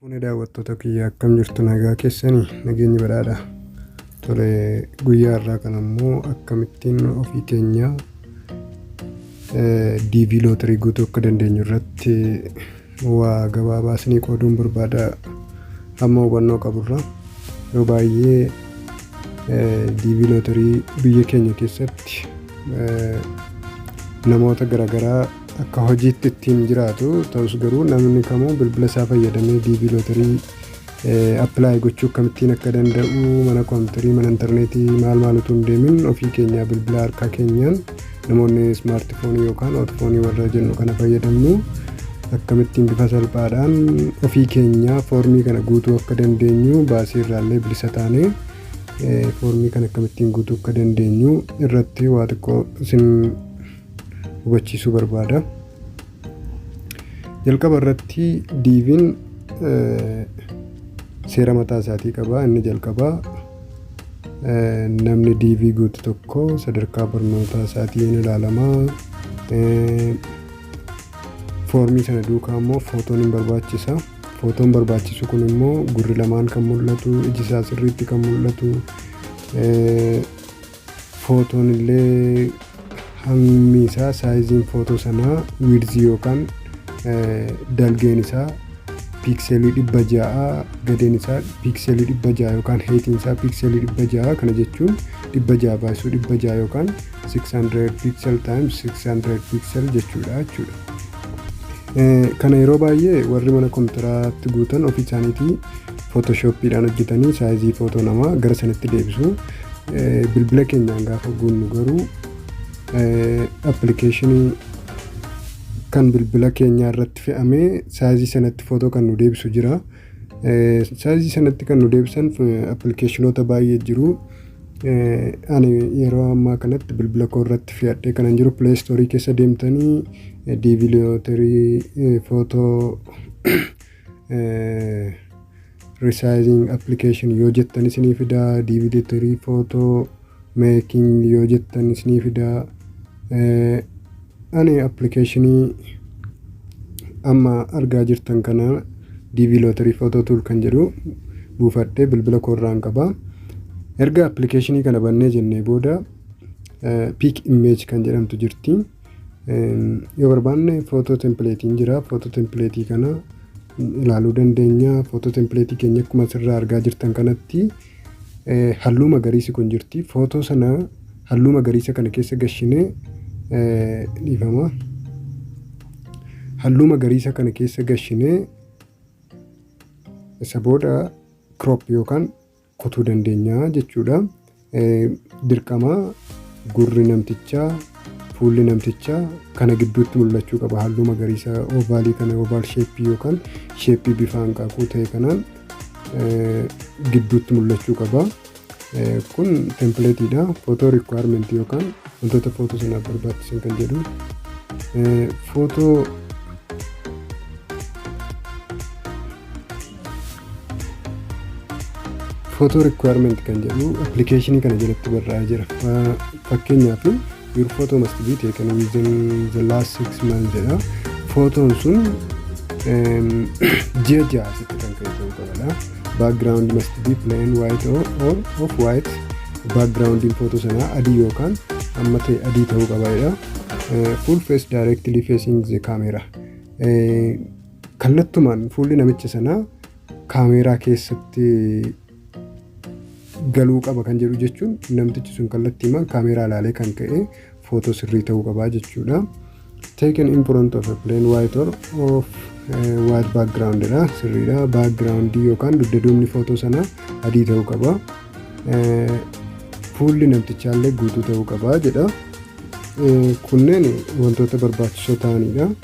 Fuune daawwattoota kiyya akkam jirtu nagaa keessanii nageenyi badhaadha. Tole guyyaa irraa kan ammoo akkamittiin ofii keenya DV lootarii guutuu akka dandeenyu irratti Waa gabaabaa isinii qooduun barbaada amma hubannoo qaburra yeroo baay'ee diivii lootarii biyya keenya keessatti namoota garaagaraa akka hojiitti ittiin jiraatu ta'us garuu namni kamuu bilbila isaa fayyadamee diivii lootarii apply gochuu akkamittiin akka danda'u mana koompitarii mana intarneetii maal maal utuu hin deemin ofii keenyaa bilbila harkaa keenyaan namoonni ismaartifoonii yookaan ootfoonii warra jennu kana fayyadamnu akkamittiin bifa salphaadhaan ofii keenyaa foormii kana guutuu akka dandeenyu baasii irraallee bilisa taanee foormii kana akkamittiin guutuu akka dandeenyu irratti waa xiqqoo isin hubachiisuu barbaada. Jalqaba irratti diiviin seera mataa isaatii qaba. Inni jalqabaa namni diivii guutu tokko sadarkaa barnootaa isaatiin ilaalama. Foormii sana duukaa immoo footoon hin barbaachisa. Footoon barbaachisu kun immoo gurri lamaan kan mul'atu, iji isaa sirriitti kan mul'atu, Footoon illee hammi isaa saayiziin footoo sanaa wiirzii yookaan dalgeen isaa piikselii dhibba ja'a gadeen isaa piikselii dhibba ja'a yookaan heetiin isaa piikselii dhibba ja'a kana jechuun dhibba ja'a baay'isuu dhibba ja'a yookaan 600 piiksel times 600 piiksel jechuudha jechuudha. Kana yeroo baay'ee warri mana kompiitaraatti guutan ofii isaaniitii footoshooppiidhaan hojjetanii saayizii footoo namaa gara sanatti deebisu. bilbila keenyaan gaafa guunnu garuu appilikeeshinii kan bilbila keenyaa irratti fe'amee saayizii sanatti footoo kan nu deebisu jira. Saayizii sanatti kan nu deebisan appilikeeshinoota baay'ee jiru. Ani yeroo ammaa kanatti bilbila koo irratti fe'adhee kanan jiru pileestoorii keessa deemtanii diiviliyooterii footoo resizing application yoo jettan isinii fidaa dvd tirii footoo making yoo jettan isinii fidaa ani appilikeeshinii amma argaa jirtan kana dv lootarii footoo tuul kan jedhu buufadhee bilbila koorraan qaba erga appilikeeshinii kana bannee jennee booda piik immeej kan jedhamtu jirti. Yoo barbaanne footoo tempileetiin jira. Footoo tempileetii kana ilaaluu dandeenya. Footoo tempileetii keenya akkuma asirraa argaa jirtan kanatti halluu magariisi kun jirti. Footoo sana halluu magariisa kana keessa gashinee dhiifama. Halluu magariisa kana keessa gashinee isa booda crop yookaan kutuu dandeenya jechuudha. Dirqama gurri namtichaa fuulli namtichaa kana gidduutti mul'achuu qaba halluu magariisa oovaalii kana oovaal sheeppii yookaan sheeppii bifa hanqaaquu ta'e kanaan gidduutti mul'achuu qaba. Kun tempileetiidha. Footoo rikwaayimentii yookaan wantoota footoo sanaaf barbaachisan kan jedhu. Footoo photo requirement kan jedhu appilikeeshinii kana jalatti barraa'ee jira fakkeenyaaf your photo must be taken within the last six months jedha footoon sun ji'a ja'a asitti kan ka'e ta'uu qabadha background must be plain white or, or of white backgroundiin footoo sanaa adii yookaan amma ta'e adii ta'uu qabaadha full face directly facing the camera Kallattumaan fuulli namicha sanaa kaameeraa keessatti galuu qaba kan jedhu jechuun namtichi sun kallattiimaan kaameeraa ilaalee kan ka'e footoo sirrii ta'uu qabaa jechuudha. Taken in front of a plain white or of eh, white background dha sirriidha. Background yookaan dugda duubni footoo sanaa adii ta'uu qaba. Eh, Fuulli namtichaallee guutuu ta'uu qaba jedha. Eh, Kunneen wantoota barbaachisoo ta'anidha.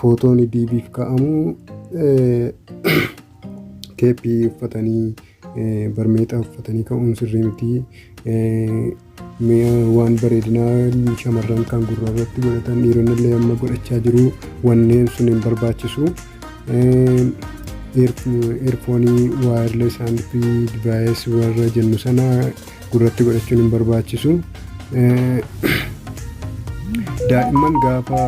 footoon diibiif ka'amu keeppii uffatanii barmeexaa uffatanii ka'uun sirrii miti. Waan bareedinaa shamarran kan gurra irratti godhatan dhiironni illee amma godhachaa jiru wanneen sun hin barbaachisu. Eerfoonii waayirlees haandfrii divaayis warra jennu sana gurratti godhachuun hin barbaachisu. Daa'imman gaafa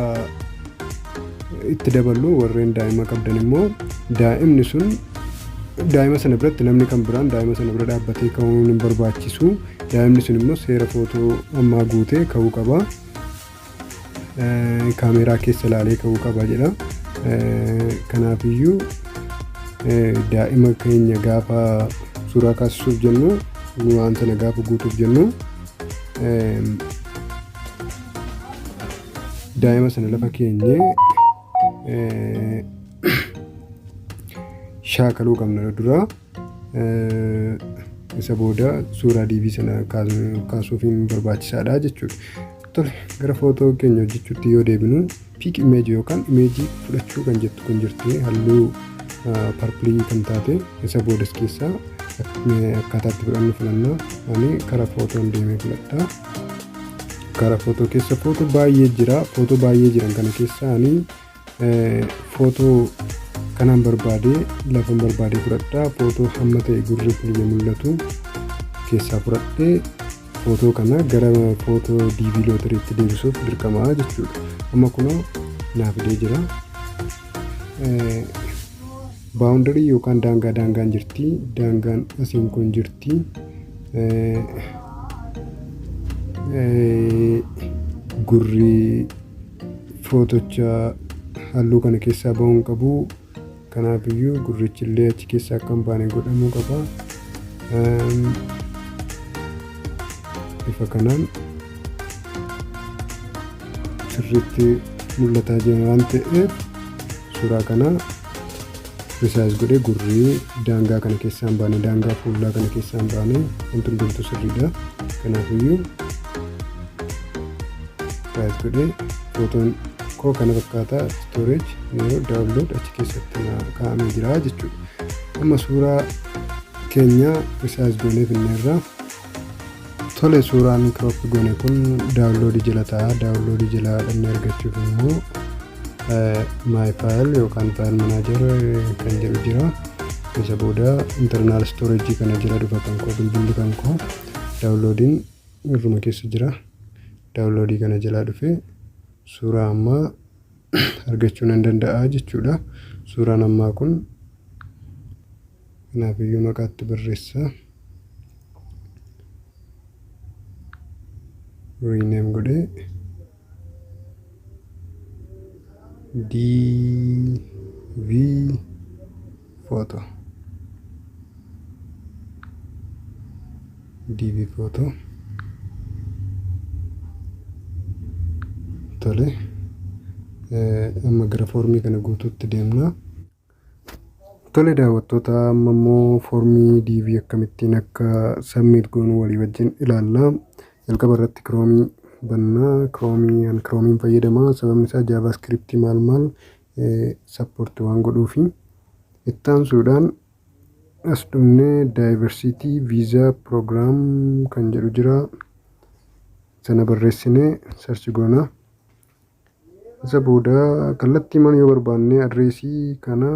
itti daballu warreen daa'ima qabdan immoo daa'imni sun daa'ima sana biratti namni kan biraan daa'ima sana bira dhaabbatee ka'uun hin barbaachisu. Daa'imni sun immoo seera footoo ammaa guutee ka'uu qaba. kaameeraa keessa ilaalee ka'uu qaba jedha. Kanaafiyyuu daa'ima keenya gaafa suuraa kaasisuuf jennu waan sana gaafa guutuuf jennu daa'ima sana lafa keenyee shaakaluu qabna dura. isa booda suuraa diibii sana kaasuuf hin barbaachisaadha jechuudha. Tole gara footoo keenya hojjechuutti yoo deebinu piik imeeji yookaan imeejii fudhachuu kan jettu kun jirti halluu parpilii kan taate isa boodas keessaa akkaataa itti fudhannu filanna ani karaa footoon deemee filadha. Karaa footoo keessa footoo baay'ee jira footoo baay'ee jiran kana keessaa ani footoo kanaan barbaadee lafan barbaadee fudhadha footoo hamma ta'e gurri kun yoo mul'atu keessaa fudhadhee footoo kana gara footoo diivii lootariitti deebisuuf dirqamaa jechuudha amma kunoo naa fidee jira baawundarii yookaan daangaa daangaan jirti daangaan asiin kun jirti gurri footocha halluu kana keessaa ba'uu hin qabu kanaaf iyyuu gurrichi illee achi keessaa akka hin baane godhamuu qaba bifa kanaan sirriitti mul'ataa jira waan ta'eef suuraa kana resize godhee gurri daangaa kana keessaan baane daangaa fuullaa kana keessaan baane wanti hundumtuu sirriidha kanaafiyyuu resize godhee footoon koo kana fakkaataa storage yeroo download achi keessatti na kaa'amee jira jechuudha amma suuraa keenya resize goonee finneerraa tole suuraa inni crop goone kun daawunloodii jala ta'a daawunloodii jala dhannee argachuuf immoo my file yookaan file manager kan jedhu jira isa booda internal storage kana jala dhufa kan koo bilbilli kan koo daawunloodiin irruma keessa jira daawunloodii kana jalaa dhufe suuraa ammaa argachuu nan danda'a jechuudha suuraan ammaa kun Kanaaf iyyuu maqaatti barreessa. Rename godhee DV photo DV photo tole amma gara foormii kana guutuutti deemna. Tole daawwattoota amma immoo foormii DV akkamittiin akka submit goonu walii wajjin ilaalla. Jalqaba irratti kiroomii banna. Kiroomii an kiroomiin fayyadama. Sababni isaa jaavaaskriptii maal maal sappoorti waan godhuufi. Itti aansuudhaan as dhumnee daayivarsiitii viizaa piroogiraam kan jedhu jira. Sana barreessinee sarchi goona. Isa booda kallattii mana yoo barbaanne adreesii kana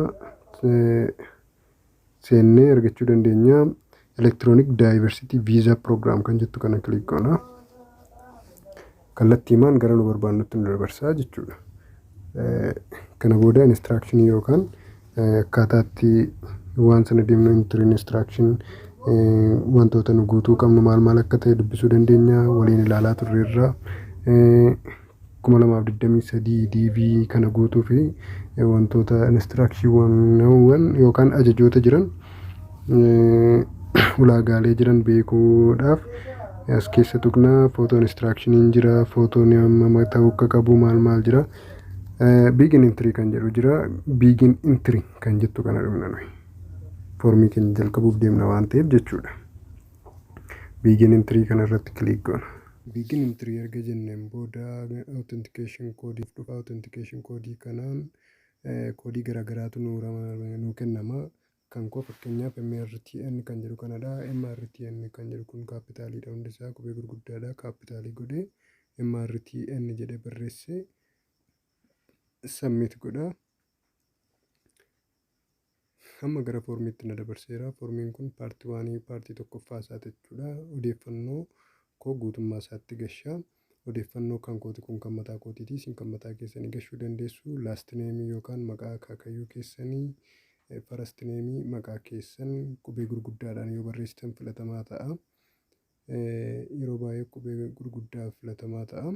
seennee argachuu dandeenya. Electronic Diversity Visa Program kan jettu kana kilik goona. Kallattii maan gara nu barbaannutti nu dabarsaa jechuudha. Kana booda instruction yookaan akkaataa itti waan sana deemnu inter instruction wantoota nu guutuu qabnu maal maal akka ta'e dubbisuu dandeenya waliin ilaalaa turreerra. kuma lamaaf digdamii sadii DV kana guutuu fi wantoota instructionwwan yookaan ajajoota jiran ulaagaalee jiran beekuudhaaf as keessa tuqna footoo instructioniin jira footoon hammam ta'uu akka qabu maal maal jira. Biigin intirii kan jedhu jira. Biigin intirii kan jettu kana dhumna nuyi. Foormii keenya jalqabuuf deemna waan ta'eef jechuudha. Biigin intirii kana irratti kiliik goona. Biigin intirii erga jenneen booda authentication koodiif dhufa. Authentication koodii kanaan koodii garaagaraatu nuu kennama. Kan koo fakkeenyaaf MRTN kan jedhu kanadha. MRTN kan jedhu kun kaappitaaliidha hundi isaa qubee gurguddaadha kaappitaalii godhee MRTN jedhee barreessee submit godha. Amma gara foormiitti na dabarseera. Foormiin kun paartii waanii paartii tokkoffaa isaa jechuudha. Odeeffannoo koo guutummaa isaatti gashaa. Odeeffannoo kan kooti kun kan mataa kootiiti isin kan mataa keessanii gashuu dandeessu last name yookaan maqaa akaakayyuu keessanii first name maqaa keessan qubee gurguddaadhaan yoo barreessitan filatamaa ta'a yeroo baay'ee qubee gurguddaa filatamaa ta'a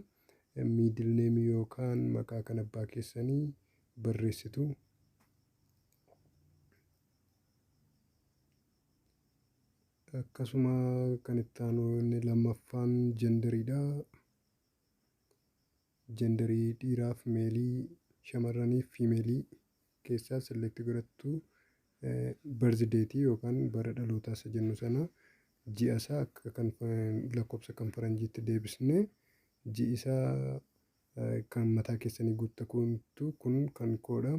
middle name yookaan maqaa kan abbaa keessanii barreessitu Akkasuma kan itti aanu inni lammaffaan jenderiidha. Jenderii dhiiraaf meelii, shamarraniif fiimeelii keessaa select godhattu birthday yookaan bara dhalootaa isa jennu sana ji'a isaa akka kan lakkoofsa kan faranjiitti deebisnee ji'i isaa kan mataa keessanii guutta kuntu kun kan koodha.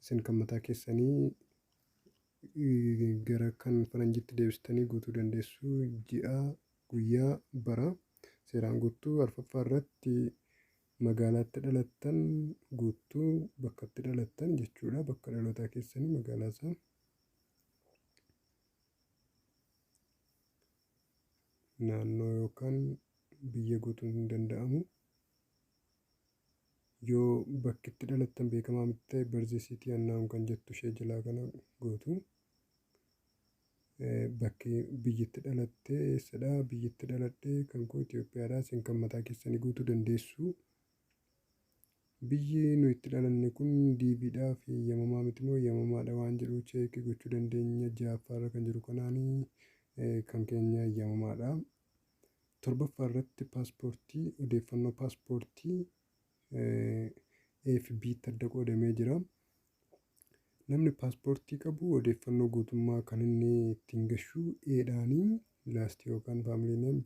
Isin kan mataa keessanii gara kan faranjiitti deebistanii guutuu dandeessu. Ji'a, guyyaa, bara seeraan guuttu. Arfaffaa irratti magaalaatti dhalattan guuttu. Bakkatti dhalattan jechuudha. Bakka dhalootaa keessanii magaalaa isaa. Naannoo yookaan biyya guutuun hin danda'amu. Yoo bakki itti dhalattan beekamaa miti ta'e birth city unknown kan jettu ishee jalaa kana gootu. Eh, Bakki biyyi itti dhalatte eessadha? Biyyi itti dhaladhe kan koo Itoophiyaadha. Isin kan mataa keessanii guutuu dandeessu. Biyyi nu itti dhalanne kun DVdhaaf eeyyamamaa miti moo eeyyamamaadha waan jedhu cheekii gochuu dandeenya. Ja'affaarra kan jiru kanaani eh, kan keenya eeyyamamaadha. Torbaffaa irratti paaspoortii odeeffannoo paaspoortii AFB tti adda qoodamee jira. Namni paaspoortii qabu odeeffannoo guutummaa kan inni ittiin gashu eedhaanii laastii yookaan faamiliineen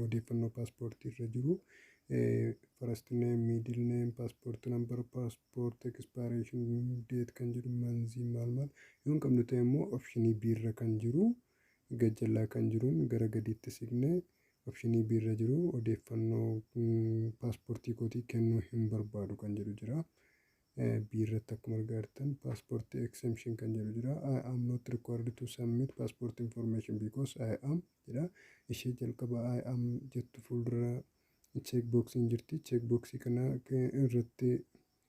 odeeffannoo paaspoortii irra jiru farastineen miidilneen paaspoortii nambar paaspoortii ekspaareeshin deet kan jedhu manzii maal maal yoo hin qabnu ta'e immoo opshinii biirra kan jiru Gajjallaa kan jiruun gara gadiitti siqnee opshinii B irra jiru odeeffannoo paaspoortii kootii kennuu hin barbaadu kan jedhu jira. B irratti akkuma argaa jirtan paaspoortii exemption kan jedhu jira. I am not required to submit passport information because I am jedha. Ishee jalqaba I am jettu fuuldura cheek boxing jirti. Cheek boxii kana irratti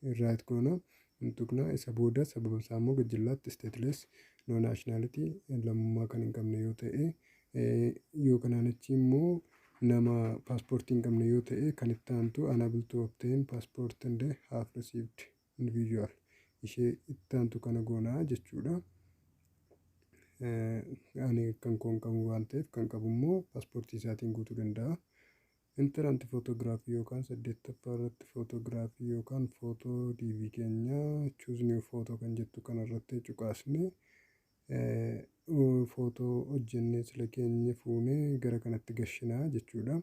Invite goona. Hin tuqna. Isa booda sababa isaa immoo gajjallaatti stateless no nationality lammummaa kan hin qabne yoo ta'e yoo kanaan achi immoo nama paaspoortii hin qabne yoo ta'e kan itti aantu unable to obtain passport and have received individual ishee itti aantu kana goona jechuudha. Ani kan koon qabu waan ta'eef kan qabu immoo paaspoortii isaatiin guutuu danda'a. Entrant Photograph yookaan 8ffaa irratti Photograph yookaan Photo DV keenya Choose New Photo kan jettu kana irratti cuqaasne Photo hojjennee sila keenya fuune gara kanatti gashina jechuudha.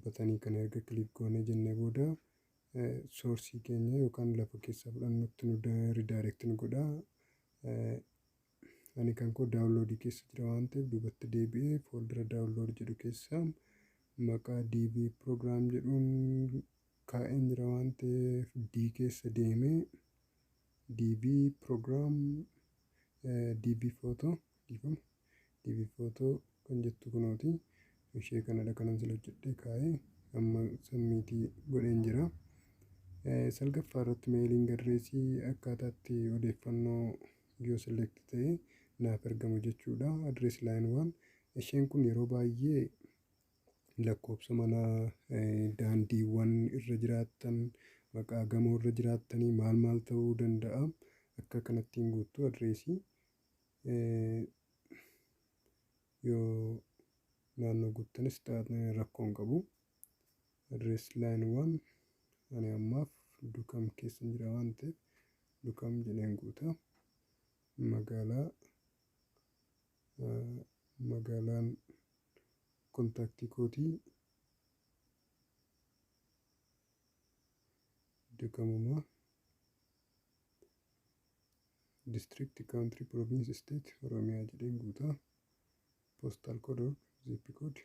batanii kana erga kiliik goonee jennee booda soorsii keenya yookaan lafa keessaa fudhannutti nu ridaayirekti nu godha. Ani kan koo daawunloodii keessa jira waan ta'eef duubatti deebi'ee fooldara daawunlood jedhu keessa maqaa DB program jedhuun kaa'een jira waan ta'eef D keessa deemee DB program DB photo dhiifama. divi photo kan jettu kunooti ishee kanadha kanan sila hojjedhee kaa'ee amma sammiitii godheen jira salgaffaa irratti meeliin gadreesii akkaataatti odeeffannoo yoo select ta'e naaf ergamu jechuudha adrees laayin waan isheen kun yeroo baay'ee lakkoobsa manaa daandiiwwan irra jiraattan maqaa gamoo irra jiraattanii maal maal ta'uu danda'a akka kanattiin guuttuu adreesii Yoo naannoo guuttanis xaa'aatni rakkoo hin qabu. Adrees laayiniiwwan ani ammaaf dukam keessa hin jira waan ta'eef dukam jedheen guuta. Magaalaa magaalaan kontaaktii kootii dukamuma. district country province state oromiyaa jedheen guutaa postal code or zip code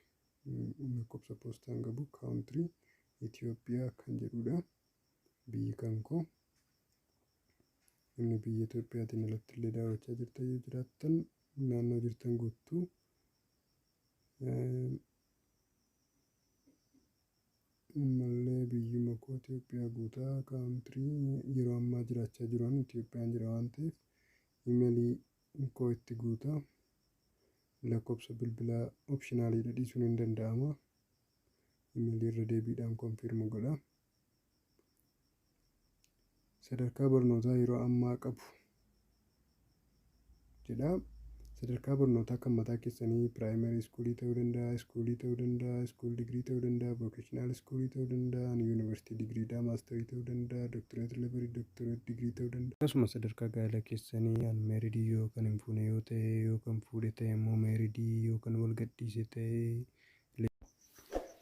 lakkoofsa poostaan qabu country Itoophiyaa kan jedhudha biyyi kan koo inni biyya Itoophiyaatiin alatti illee daawwachaa jirtan yoo jiraattan naannoo jirtan guuttuu Ammallee biyyuma koo Ethiopia guuta country yeroo ammaa jiraachaa jiru an Ethiopian jira waan ta'eef email koo itti guuta lakkoofsa bilbilaa optional dha dhiisuun hin danda'ama email irra deebiidhaan confirm godha sadarkaa barnootaa yeroo ammaa qabu jedha. Sadarkaa barnootaa kan mataa keessanii piraayimarii iskuulii ta'uu danda'a, iskuulii ta'uu danda'a, iskuul digirii ta'uu danda'a, vookeshinaal iskuulii ta'uu danda'a, yuunivarsiitii digiriidhaa maastarii ta'uu danda'a, doktoreet levelii doktoreet digirii ta'uu danda'a. Akkasuma sadarkaa gaa'ela keessanii an meeridii yoo kan hin fuune yoo ta'e yoo kan fuudhe ta'e immoo meeridii yoo kan wal gadhiise ta'e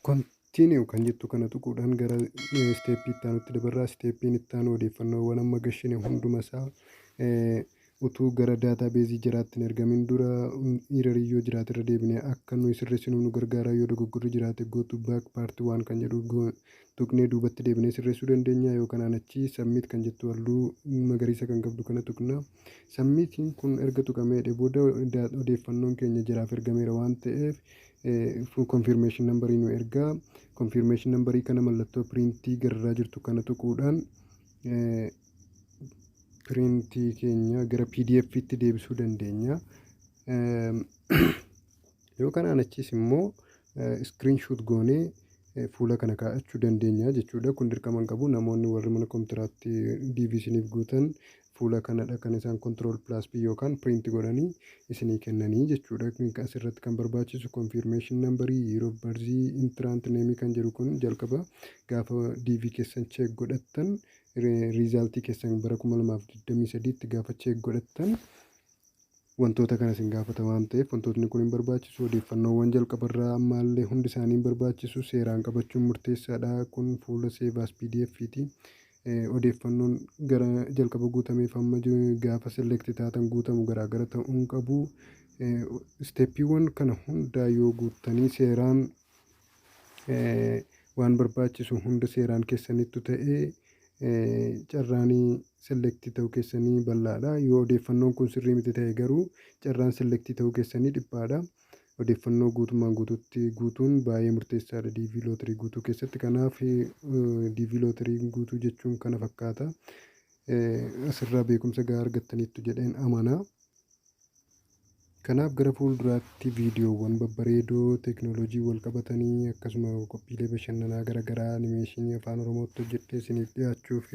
Continue kan jettu kana tuquudhaan gara isteeppii itti aanutti dabarraa. Isteeppiin itti aanu odeeffannoowwan amma gashine hunduma isaa utuu gara daataa beezii jiraatti hin ergamin dura iirarii yoo jiraate irra deebine akka nuyi sirreessinuuf nu gargaara yoo dogoggorri jiraate go to back part waan kan jedhu tuqnee duubatti deebinee sirreessuu dandeenya yoo kanaan achi submit kan jettu halluu magariisa kan qabdu kana tuqna. Sammiitiin kun erga tuqamee jedhee booda odeeffannoon keenya jaraaf ergameera waan ta'eef confirmation number nu ergaa. Confirmation number kana mallattoo piriintii gararraa jirtu kana tuquudhaan piriintii keenya gara pdf tti deebisuu dandeenya. Yoo kanaan achiis immoo iskiriin shuut goonee fuula kana kaa'achuu dandeenya jechuudha. Kun dirqama hin qabu namoonni warri mana kompiitaraatti DV isiniif guutan fuula kanadha kan isaan control plus p yookaan print godhanii isinii kennanii jechuudha asirratti kan barbaachisu confirmation number year of birth entrant name kan jedhu kun jalqaba gaafa dv keessan check godhattan riizaaltii keessan bara 2023tti gaafa cheek godhattan wantoota kana isin gaafata waan ta'eef wantootni kun hin barbaachisu odeeffannoowwan jalqabarraa ammaallee hundi isaanii hin barbaachisu seeraan qabachuun murteessaadha kun fuula seevaas pdf ti Odeeffannoon gara jalqaba guutameef hamma gaafa select taatan guutamu garaagara ta'uu hin qabu. Isteeppiiwwan kana hundaa yoo guuttanii seeraan waan barbaachisu hunda seeraan keessanittu ta'e carraan select ta'uu keessanii bal'aadha. Yoo odeeffannoon kun sirrii miti ta'e garuu carraan select ta'uu keessanii dhiphaadha. Odeeffannoo guutummaan guutuutti guutuun baay'ee murteessaadha DV lootirii guutuu keessatti. Kanaaf DV lootirii guutuu jechuun kana fakkaata. Asirraa beekumsa gahaa argattaniittu jedheen amana. Kanaaf gara fuulduraatti viidiyoowwan babbareedoo teeknooloojii wal qabatanii akkasuma qophiilee bashannanaa garaagaraa animeeshinii afaan oromootti hojjedhee isiniif dhiyaachuuf